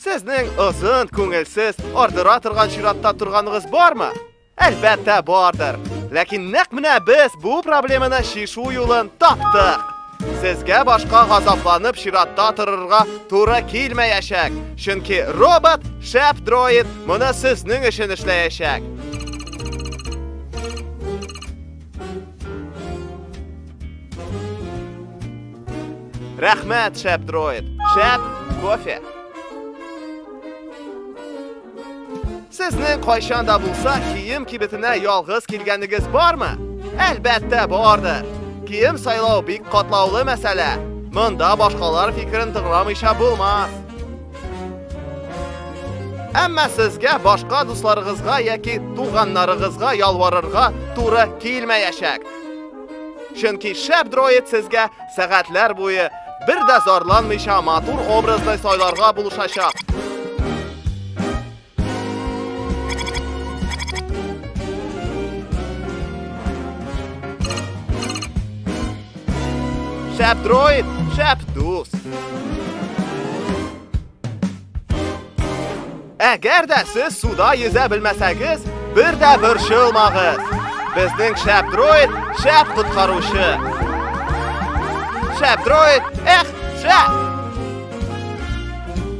Сезнең озын, күңелсез, ардыра торган чиратта торганыгыз бармы? Әлбәттә бардыр. Ләкин нәкъ менә без бу проблеманы шишу юлын таптык. Сезгә башка газапланып чиратта торырга туры килмәячәк. Чөнки робот, шәп дроид, моны сезнең өчен эшләячәк. Рәхмәт, шәп дроид. Шәп кофе. Сезнең кайчан да булса кием кибетенә ялгыз килгәнегез бармы? Әлбәттә, барды. Кием сайлау бик катлаулы мәсьәлә. Монда башкалар фикерен тыңламыйча булмас. Әмма сезгә башка дусларыгызга яки туганнарыгызга ялварырга туры килмәячәк. Чөнки шәп дроид сезгә сәгатьләр буе бер дә зарланмыйча матур образны сайларга булышачак. Шәп дроид, шәп дус. Әгәр дә сез суда йөзә белмәсәгез, бер дә борчылмагыз. Безнең шәп дроид, шәп коткаручы. Шәп дроид, эх, шәп!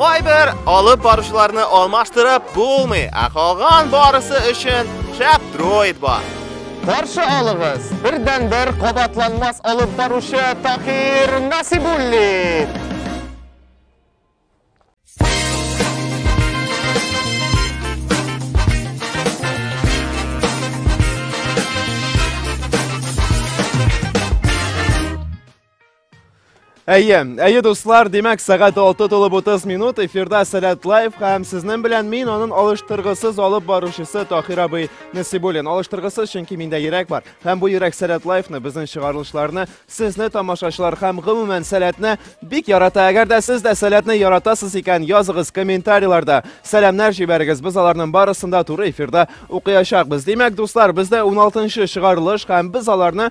Кайбер алып баручыларны алмаштырып булмый, ә калган барысы өчен шәп дроид бар. Каршы алыгыз, бердән бер кабатланмас алып баручы Такир Насибуллин. Әйе, әйе дуслар, димәк сәгать 6 тулып 30 минут эфирда Сәләт Лайф һәм сезнең белән мин аның алыштыргысыз алып баручысы Тахир абый Насибуллин. Алыштыргысыз, чөнки миндә йөрәк бар. Һәм бу йөрәк Сәләт Лайфны, безнең чыгарылышларны, сезне тамашачылар һәм гомумән Сәләтне бик ярата. Әгәр дә сез дә Сәләтне яратасыз икән, языгыз комментарийларда. Сәламнәр җибәрегез. Без аларның барысын да туры эфирда укыячакбыз. Димәк, дуслар, бездә 16 нчы чыгарылыш һәм без аларны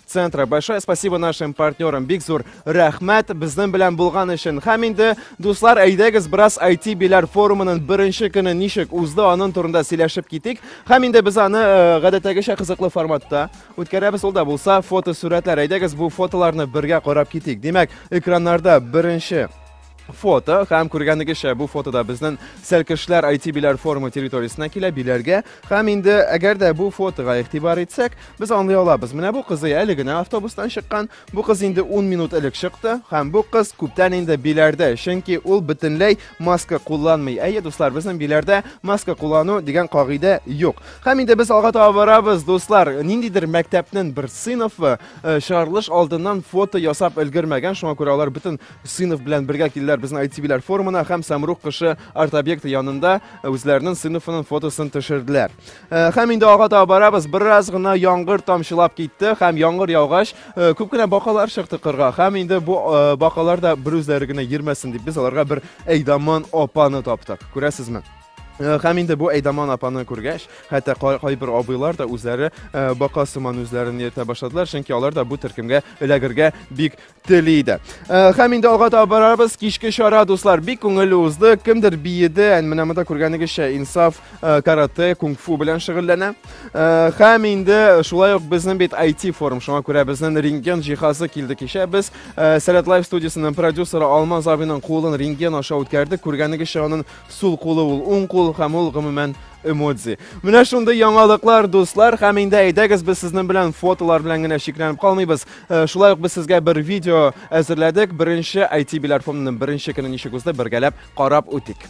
центра. Большое спасибо нашим партнерам. Бик зур рәхмәт безнең белән булган өчен. Һәм инде дуслар, әйдәгез бераз IT биләр форумының беренче көне ничек узды, аның турында сөйләшеп китик. Һәм инде без аны э, гадәттәгечә кызыклы форматта үткәрәбез. Ул да булса фотосурәтләр. Әйдәгез бу фотоларны бергә карап китик. Димәк, экраннарда беренче фото һәм күргәнегезчә бу фотода безнең сәлкешләр IT биләр форумы территориясенә килә биләргә һәм инде әгәр дә бу фотога игътибар итсәк без аңлый алабыз менә бу кызый әле генә автобустан чыккан бу кыз инде 10 минут элек чыкты һәм бу кыз күптән инде биләрдә чөнки ул бөтенләй маска кулланмый әйе дуслар безнең биләрдә маска куллану дигән кагыйдә юк һәм инде без алга таба барабыз дуслар ниндидер мәктәпнең бер сыйныфы э, чыгарылыш алдыннан фото ясап өлгермәгән шуңа күрә алар бөтен Сынов белән бергә килдиләр безнең ITV-ләр форумына һәм Самрук кышы арт-объекты янында үзләренең сыйныфының фотосын төшерделәр. Э, һәм инде алга таба барабыз. Бераз гына яңгыр тамчылап китте һәм яңгыр яугач, э, күп кенә бакалар чыкты кырга. Һәм инде бу э, бакалар да бер үзләре генә йөрмәсен дип без аларга бер Әйдаман апаны таптык. Күрәсезме? Э, һәм инде бу әйдаман апаны күргәч хәтта кайбер абыйлар да үзләре э, бака сыман үзләрен йөртә башладылар чөнки алар да бу төркемгә эләгергә бик тели иде. Э, һәм инде алга таба барабыз. Кичке чара, дуслар, бик күңелле узды. Кемдер биеде, ән менә монда күргәнегезчә Инсаф э, карате, кунг-фу белән шөгыльләнә. Э, һәм инде шулай ук безнең бит IT форум, шуңа күрә безнең рентген җиһазы килде кичә. Без Сәләт Лайв студиясенең продюсеры Алмаз абыйның кулын рентген аша үткәрдек. Күргәнегезчә, аның сул кулы ул уң кул һәм ул гомумән эмодзи. Менә шундый яңалыклар, дуслар, һәм инде әйдәгез без сезнең белән фотолар белән генә чикләнеп калмыйбыз. Э, шулай ук без сезгә бер видео әзерләдек. Беренче IT Биләр форумының беренче көне ничек узды, бергәләп карап үтик.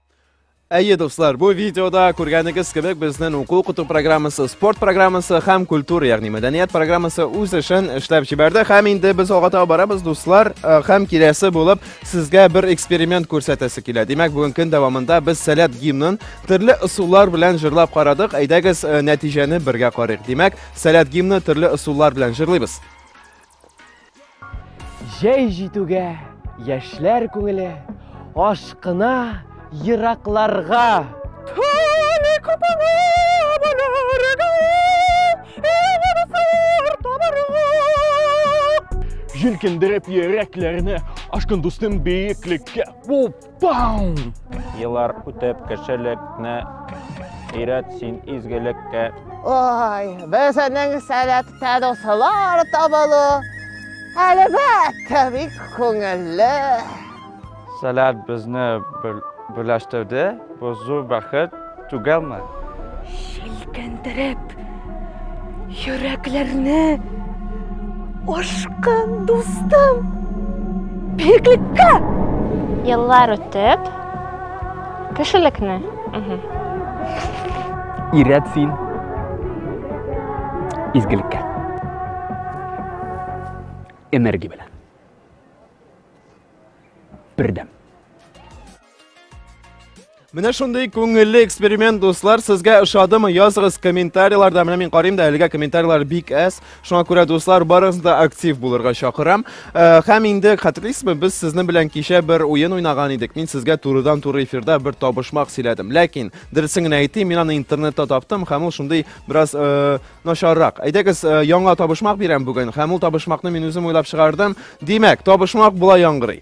Әйе, дуслар, бу видеода күргәнегез кебек безнең уку укыту программасы, спорт программасы һәм культура, ягъни мәдәният программасы үз эшен эшләп җибәрде. Һәм инде без алга таба барабыз, дуслар, э, һәм киләсе булып сезгә бер эксперимент күрсәтәсе килә. Димәк, бүген көн дәвамында без Сәләт гимнын төрле ысуллар белән җырлап карадык. Әйдәгез, э, нәтиҗәне бергә карыйк. Димәк, Сәләт гимны төрле ысуллар белән җырлыйбыз. Җәй җитүгә яшьләр күңеле ашкына еракларга. Тәне капана баларга, егылсыр табарга. Җилкендереп йөрәкләрне, ашкын дустым биеклеккә. Уп! Еллар үтеп кешелекне өйрәт син изгелеккә. Ой, безнең сәләттә дуслар табылу, әлбәттә, бик күңелле. Сәләт безне бүләштерде, бу зур бәхет. Түгелме? Шелкәндереп, йөрәкләрне ашкан дустым. Биеклеккә! Еллар үтеп, кешелекне. Ирәт син. Изгелеккә. Энергия белән. Бердәм. Менә шундый күңелле эксперимент, дуслар, сезгә ошадымы? Языгыз комментарийларда. Менә мин карыйм да, әлегә комментарийлар бик әз. Шуңа күрә, дуслар, барыгызны да актив булырга чакырам. Э, һәм инде хәтерлисезме, без сезнең белән кичә бер уен уйнаган идек. Мин сезгә турыдан туры эфирда бер табышмак сөйләдем. Ләкин дөресен генә әйтим, мин аны интернетта таптым һәм ул шундый бераз э, начаррак. Әйдәгез, э, яңа табышмак бирәм бүген һәм ул табышмакны мин үзем уйлап чыгардым. Димәк, табышмак була яңгырый.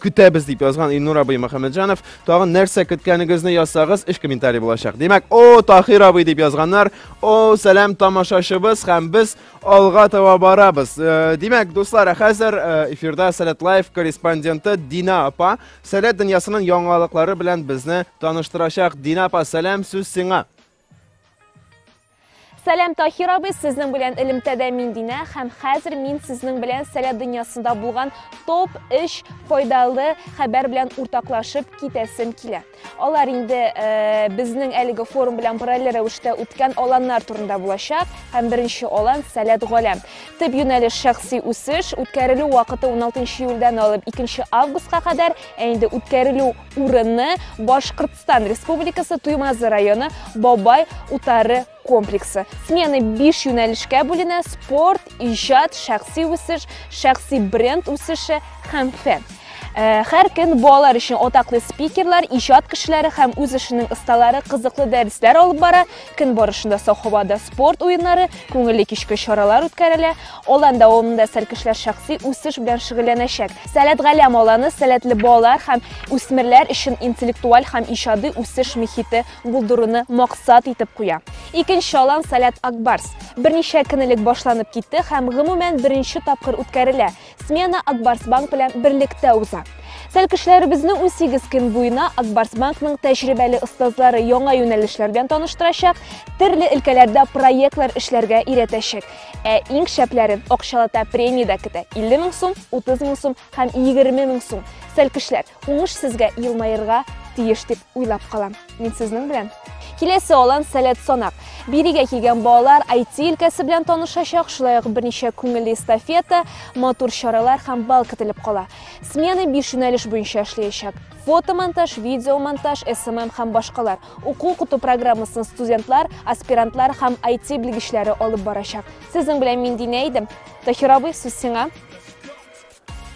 көтәбез дип язган Илнур абый Мөхәммәтҗанов. Тагын нәрсә көткәнегезне язсагыз, эш комментарий булачак. Димәк, о, Тахир абый дип язганнар. О, сәлам тамашачыбыз һәм без алга таба барабыз. Э, димәк, дуслар, хәзер э, эфирда Сәләт Лайф корреспонденты Дина апа Сәләт дөньясының яңалыклары белән безне таныштырачак. Дина апа, сәлам, сүз сиңа. Сәлам Тахир абый, сезнең белән элемтәдә мин Динә һәм хәзер мин сезнең белән сәләт дөньясында булган топ 3 файдалы хәбәр белән уртаклашып китәсем килә. Алар инде э, безнең әлеге форум белән параллель рәвештә үткән аланнар турында булачак һәм беренче алан сәләт галәм. Тып юнәлеш шәхси үсеш үткәрелү вакыты 16 июльдән алып 2 августка кадәр, ә инде үткәрелү урынны Башкортстан Республикасы Туймазы районы Бабай утары комплексы. Смены 5 юнәлешкә бүленә спорт, иҗат, шәхси үсеш, шәхси бренд үсеше һәм фән. Э, һәр көн балалар өчен атаклы спикерлар, иҗат кешеләре һәм үз эшенең осталары кызыклы дәресләр алып бара, Көн барышында сау һавада спорт уеннары, күңелле кичке чаралар үткәрелә. Алан дәвамында сәркешләр шәхси үсеш белән шөгыльләнәчәк. Сәләт Галәм аланы сәләтле балалар һәм үсмерләр өчен интеллектуаль һәм иҗади үсеш мөхите булдыруны максат итеп куя. Икенче алан Сәләт Акбарс берничә көн элек башланып китте һәм гомумән беренче тапкыр үткәрелә. Смена Акбарсбанк белән берлектә уза. Тәлкешләребезне 18 көн буена Акбарсбанкның тәҗрибәле остазлары яңа юнәлешләр белән таныштырачак, төрле өлкәләрдә проектлар эшләргә өйрәтәчәк. Ә иң шәпләрен акчалата премия дә көтә. 50 мең сум, 30 мең сум һәм 20 мең сум. Тәлкешләр, уңыш сезгә елмаерга тиеш дип уйлап калам. Мин сезнең белән. Киләсе алан сәләт санак. Бирегә килгән балалар IT өлкәсе белән танышачак, шулай ук берничә күңелле эстафета, матур чаралар һәм бал көтелеп кала. Смена 5 юнәлеш буенча эшләячәк. Фотомонтаж, видеомонтаж, СММ һәм башкалар. Уку укыту программасын студентлар, аспирантлар һәм IT белгечләре алып барачак. Сезнең белән мин Динә идем. Тахир абый, сүз сиңа.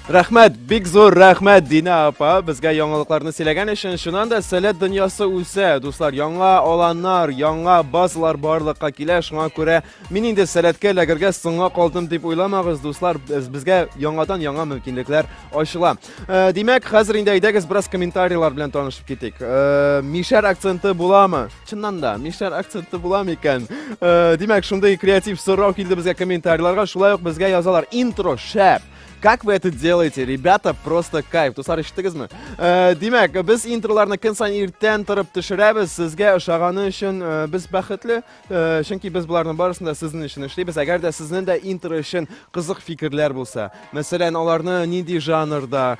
Рәхмәт, бик зур рәхмәт Дина апа, безгә яңалыкларны сөйләгән өчен. Шуннан да сәләт дөньясы үсә. Дуслар, яңа аланнар, яңа базалар барлыкка килә. Шуңа күрә мин инде сәләткә эләгергә соңга калдым дип уйламагыз, дуслар, безгә яңадан яңа мөмкинлекләр ачыла. Э, димәк, хәзер инде әйдәгез бераз комментарийлар белән танышып китик. Э, мишәр акценты буламы? Чыннан да, мишәр акценты була микән? Э, димәк, шундый креатив сорау килде безгә комментарийларга. Шулай ук безгә язалар. Интро шәп. Как вы это делаете, ребята? Просто кайф. Дуслар, ишеттегезме? Э, димәк, без интроларны көн сайын иртән торып төшерәбез. Сезгә ошаганы өчен э, без бәхетле, э, чөнки без боларның барысын да сезнең өчен эшлибез. Әгәр дә сезнең дә интро өчен кызык фикерләр булса, Мәсәлән, аларны нинди жанрда,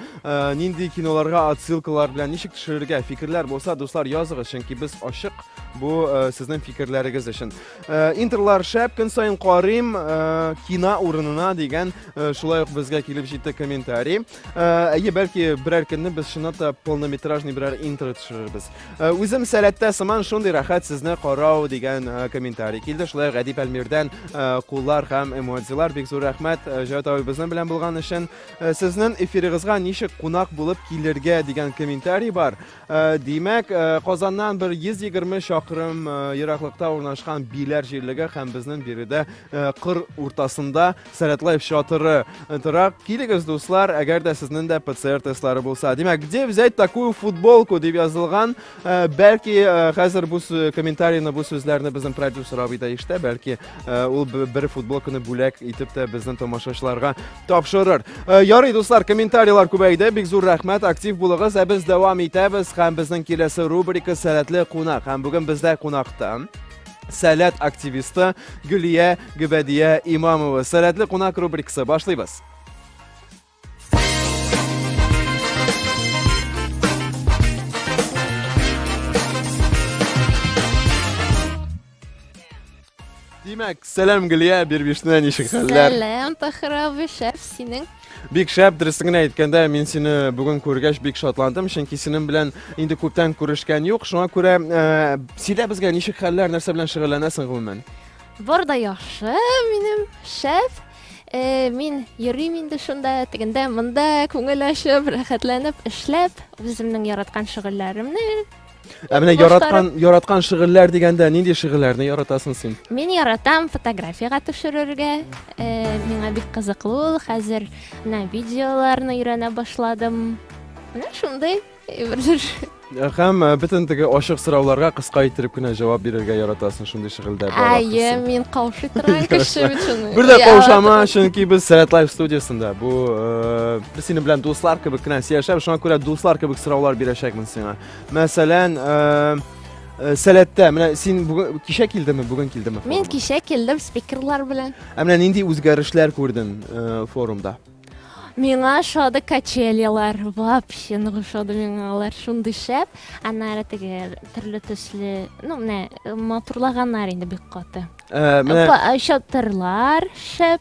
нинди киноларга отсылкалар белән ничек төшерергә фикерләр булса, дуслар, языгыз, чөнки без ачык бу сезнең фикерләрегез өчен. Интерлар шәп, көн саен карыйм, кина урынына дигән шулай ук безгә килеп җитте комментарий. Әйе, бәлки берәр көнне без чынлап та полнометражный берәр интер төшерербез. Э, үзем сәләттә сыман шундый рәхәт сезне карау дигән э, комментарий килде шулай ук әдип әлмирдән э, куллар һәм эмоциялар бик зур рәхмәт җәүт абый безнең белән булган өчен сезнең эфирыгызга ничек кунак булып килергә дигән комментарий бар димәк казаннан бер йөз егерме чакрым ераклыкта урнашкан биләр җирлеге һәм безнең биредә кыр уртасында Сәләт Лайф чатыры тора. Килегез, дуслар, әгәр дә сезнең дә ПЦР тестлары булса. Димәк, где взять такую футболку дип язылган. Э, бәлки э, хәзер бу комментарийны, бу сүзләрне безнең продюсер абый да ишетә. Бәлки э, ул бер футболканы бүләк итеп тә безнең тамашачыларга тапшырыр. Ярый, дуслар, комментарийлар күбәйде. Бик зур рәхмәт, актив булыгыз. Ә без дәвам итәбез һәм безнең киләсе рубрика Сәләтле кунак. Һәм бүген бездә кунакта Сәләт активисты Гөлия Гөбәдия Имамова. Сәләтле кунак рубрикасы башлыйбыз. Димәк, сәлам Гөлия Бирбишне ничек хәлләр? Сәлам Тахрабы шәф синең Бик шәп, дөресен генә әйткәндә, мин сине бүген күргәч бик шатландым, чөнки синең белән инде күптән күрешкән юк. Шуңа күрә ә, сөйлә безгә, ничек хәлләр, нәрсә белән шөгыльләнәсең гомумән? Бар да яхшы, минем шәп. Э, мин йөрим инде шунда, тегендә, монда күңел ачып, рәхәтләнеп эшләп, үземнең яраткан шөгыльләремне Ә менә яраткан яраткан шигырьләр дигәндә нинди шигырьләрне яратасың син? Мин яратам фотографиягә төшерергә. Э, миңа бик кызыклы ул. Хәзер менә видеоларны өйрәнә башладым. Менә шундый әйберләр. Э, һәм э, бөтен теге ачык сорауларга кыска иттереп кенә җавап бирергә яратасың шундый шигыльдә бар. Әйе, мин каушый торган кеше бит шуны. Бер дә каушама, чөнки без Сәләт Лайф студиясендә. Бу э, без синең белән дуслар кебек кенә сөйләшәбез, шуңа күрә дуслар кебек сораулар бирәчәкмен сиңа. Мәсәлән, э, сәләттә, менә син бүген кичә килдеңме, бүген килдеңме? Мин кичә килдем спикерлар белән. Ә менә нинди үзгәрешләр күрдең э, форумда? Миңа шоды качелялар, вообще ну шоды миңа алар шундый шәп. Аннары теге төрле төсле, ну менә матурлаганнар инде бик каты. Ә, менә Чатырлар шәп.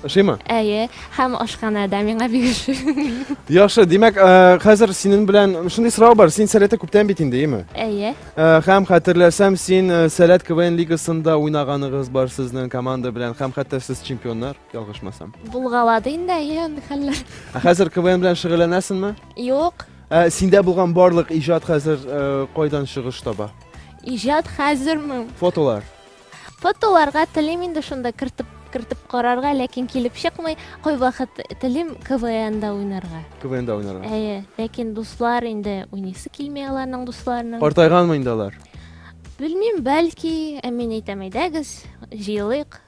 Ошыймы? Әйе, һәм ашханәдә миңа бик ошый. Яхшы, димәк, э, хәзер синең белән шундый сорау бар. Син сәләтә күптән бит инде, яме? Әйе. Э, һәм хәтерләсәм, син э, сәләт КВН лигасында уйнаганыгыз бар сезнең команда белән һәм хәтта сез чемпионнар, ялгышмасам. Булгалады инде, әйе, андый хәлләр. Ә хәзер КВН белән шөгыльләнәсеңме? Юк. Ә синдә булган барлык иҗат хәзер э, кайдан чыгыш таба? Иҗат хәзерме? Фотолар. Фотоларга телим инде шунда кертеп кертеп карарга, ләкин килеп чыкмый. Кайвакыт телим КВНда уйнарга. КВНда уйнарга. Әйе, ләкин дуслар инде уйныйсы килми аларның дусларының. Картайганмы инде алар? Белмим, бәлки, ә мин әйтәм, әйдәгез, җыелыйк.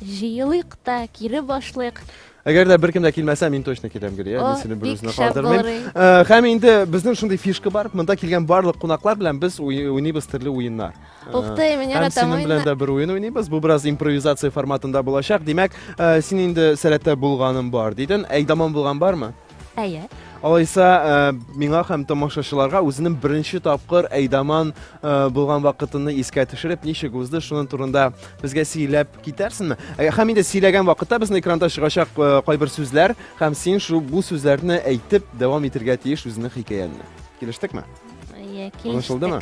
Җыелыйк та, кире башлыйк. Әгәр дә беркем дә килмәсә, мин точно киләм, Гөлия. Мин сине бер үзенә калдырмыйм. Һәм инде безнең шундый фишка бар. Монда килгән барлык кунаклар белән без уйныйбыз төрле уеннар. Ух ты, мин яратам уенны. Һәм синең белән дә бер уен уйныйбыз. Бу бераз импровизация форматында булачак. Димәк, син инде сәләттә булганым бар дидең. Әйдаман булган бармы? Әйе. Алайса, миңа һәм тамашачыларга үзенең беренче тапкыр Әйдаман булган вакытыны искә төшереп, ничек узды, шуның турында безгә сөйләп китәрсеңме? Һәм инде сөйләгән вакытта безнең экранда чыгачак кайбер сүзләр һәм син шул бу сүзләрне әйтеп дәвам итергә тиеш үзеңнең хикәяңне. Килештекме? Әйе, килештек. Аңлашылдымы?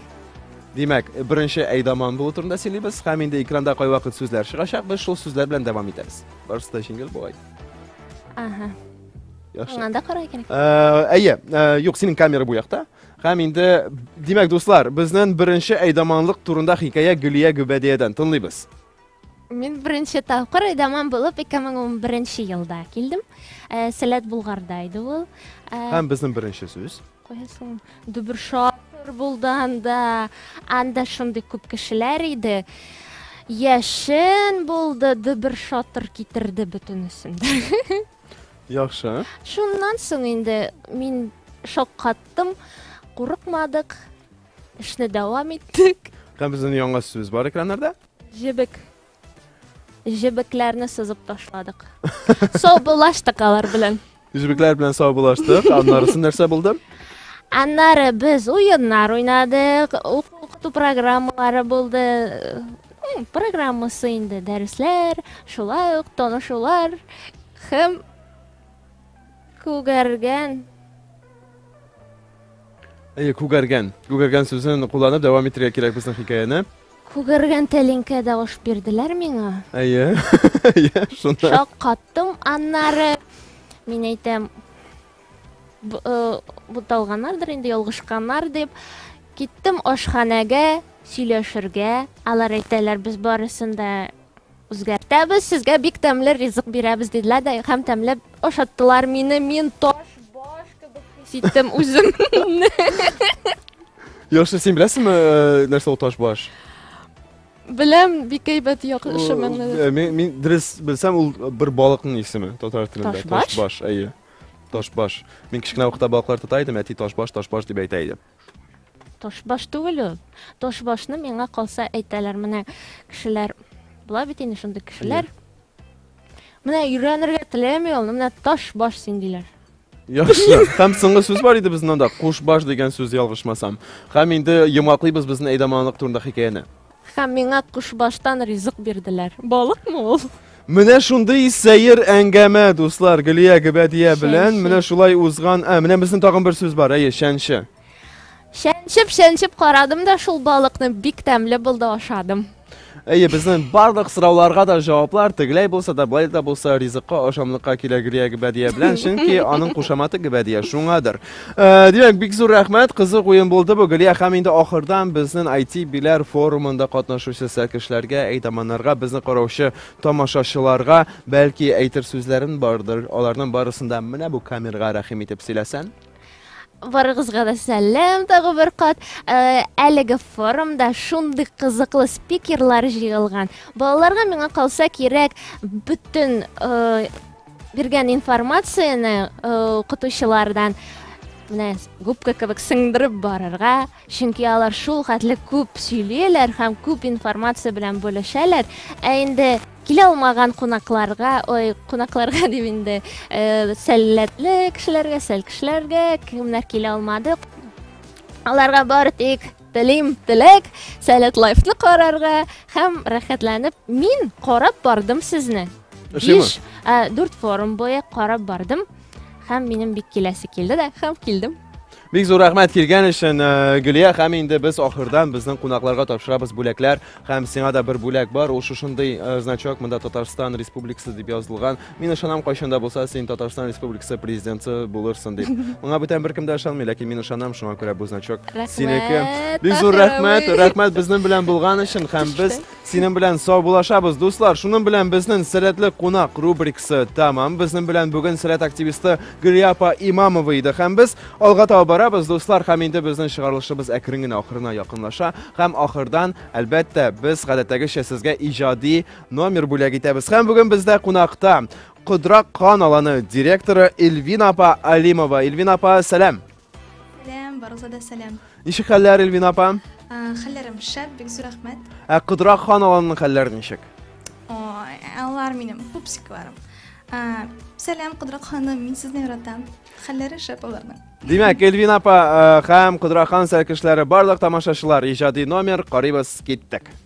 Димәк, беренче Әйдаман булу турында сөйлибез һәм инде экранда кайвакыт сүзләр чыгачак, без шул сүзләр белән дәвам итәбез. Барысы да җиңел бугай. Ага. Яхшы. Аңа да карай икән. Э, әйе, э, юк, синең камера бу якта. Һәм инде, димәк, дуслар, безнең беренче әйдаманлык турында хикәя Гөлия Гөбәдиядән тыңлыйбыз. Мин беренче тапкыр әйдаман булып 2011 елда килдем. Э, Сәләт Булгарда иде ул. Э, Һәм безнең беренче сүз. Кая соң Дүбершатыр булды анда. Анда шундый күп кешеләр иде. Яшен булды, Дүбершатыр китерде бөтенесен. Яхшы. Шуннан соң инде мин шаккаттым, курыкмадык, эшне дәвам иттек. Һәм безнең яңа сүз бар экраннарда. Җебек. Җебекләрне сызып ташладык. Саубулаштык алар белән. Җебекләр белән саубулаштык. Аннарысы нәрсә булды? Аннары без уеннар уйнадык, укыту программалары булды. Программасы инде дәресләр, шулай ук танышулар һәм күгәргән Әйе, күгәргән. Күгәргән сүзен кулланып дәвам итәргә кирәк безнең хикәяне. Күгәргән тәлинкә дә аш бирделәр миңа. Әйе. Әйе, шуны. Шаккаттым аннары. Мин әйтәм, э, буталганнардыр инде, ялгышканнар дип. Киттем ашханәгә сөйләшергә. Алар әйтәләр, без барысын да Үзгәртәбез, сезгә бик тәмле ризык бирәбез, диделәр дә һәм тәмләп ашаттылар мине. Мин таш баш кебек хис иттем үземне. Яхшы, син беләсеңме, э, нәрсә ул таш баш? Беләм, бик әйбәт яхшы мәгънә. Э, Мин мин дөрес белсәм, ул бер балыкның исеме татар телендә. Ташбаш? Ташбаш, әйе. Ташбаш. Мин кечкенә вакытта балыклар тота идем, әти ташбаш, ташбаш дип әйтә иде. Ташбаш түгел ул. Ташбашны миңа калса әйтәләр, менә кешеләр була бит инде шундый кешеләр. Менә өйрәнергә теләми ул, менә ташбаш син диләр. Яхшы. Һәм соңгы сүз бар иде безнең анда, кушбаш дигән сүз ялгышмасам. Һәм инде йомгаклыйбыз безнең әйдаманлык турында хикәяне. Һәм миңа кошбаштан ризык бирделәр. Балыкмы ул? Менә шундый сәер әңгәмә, дуслар, Гөлия Гөбәдия белән менә шулай узган. Ә, менә безнең тагын бер сүз бар, әйе, чәнче. Чәнчеп, чәнчеп карадым да шул балыкны, бик тәмле булды, ашадым. Әйе, безнең барлык сорауларга да җаваплар тегеләй булса да, былай да булса, ризыкка ашамлыкка килә Гөлия Гөбәдия белән, чөнки аның кушаматы Гөбәдия, шуңадыр. Э, димәк, бик зур рәхмәт, кызык уен булды бу, Гөлия, һәм инде ахырдан безнең IT-биләр форумында катнашучы сәкешләргә, әйтаманнарга, безне караучы тамашачыларга, бәлки әйтер сүзләрен бардыр, аларның барысында менә бу камерга рәхим итеп сөйләсән. Барыгызга да сәлам тагы бер кат. Э, әлеге форумда шундый кызыклы спикерлар җыелган. Балаларга миңа калса кирәк бөтен э, биргән информацияне укытучылардан менә губка кебек сеңдереп барырга чөнки алар шул хәтле күп сөйлиләр һәм күп информация белән бүлешәләр ә инде килә алмаган кунакларга ой кунакларга дип инде э, сәлләтле кешеләргә сәл кешеләргә кемнәр килә алмады аларга бары тик Телим теләк, Сәләт лайфны карарга һәм рәхәтләнеп мин карап бардым сезне. Биш, дүрт форум буе карап бардым һәм минем бик киләсе килде дә һәм килдем. Бик зур рәхмәт килгән өчен э, Гөлия һәм инде без ахырдан безнең кунакларга тапшырабыз бүләкләр һәм сиңа да бер бүләк бар. Ул шушындый э, значок монда Татарстан Республикасы дип язылган. Мин ышанам кайчан да булса син Татарстан Республикасы президенты булырсың дип. Моңа бүтән беркем дә ышанмый, ләкин мин ышанам, шуңа күрә бу значок синеке. Бик зур рәхмәт, рәхмәт безнең белән булган өчен һәм без синең белән сау булашабыз, дуслар. Шуның белән безнең сәләтле кунак рубрикасы тәмам. Безнең белән бүген сәләт активисты Гөлиапа Имамова иде һәм без алга таба барабыз, дуслар, һәм инде безнең чыгарылышыбыз әкрен генә ахырына якынлаша һәм ахырдан, әлбәттә, без гадәттәгечә сезгә иҗади номер бүләк итәбез. Һәм бүген бездә кунакта Кудра кан аланы директоры Эльвина апа Алимова. Эльвина апа, сәлам. Сәлам, барыгызга да сәлам. Ничек хәлләр, Эльвина апа? Хәлләрем шәп, бик зур рәхмәт. Ә Кудра кан аланының хәлләре ничек? Ой, алар минем пупсикларым. Сәлам, Кудра ханым, мин сезне яратам. Хәлләре шәп аларның. Димәк, Эльвина апа һәм Кудра хан сәлкешләре барлык тамашачылар иҗади номер карыйбыз киттек.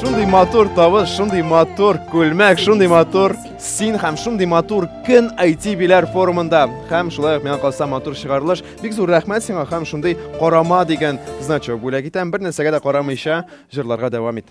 шундый матур тавыш, шундый матур күлмәк, шундый матур син һәм шундый матур көн IT биләр форумында. Һәм шулай ук миңа калса матур чыгарылыш. Бик зур рәхмәт сиңа һәм шундый карама дигән значок бүләк итәм. Бер нәрсәгә дә карамыйча җырларга дәвам ит.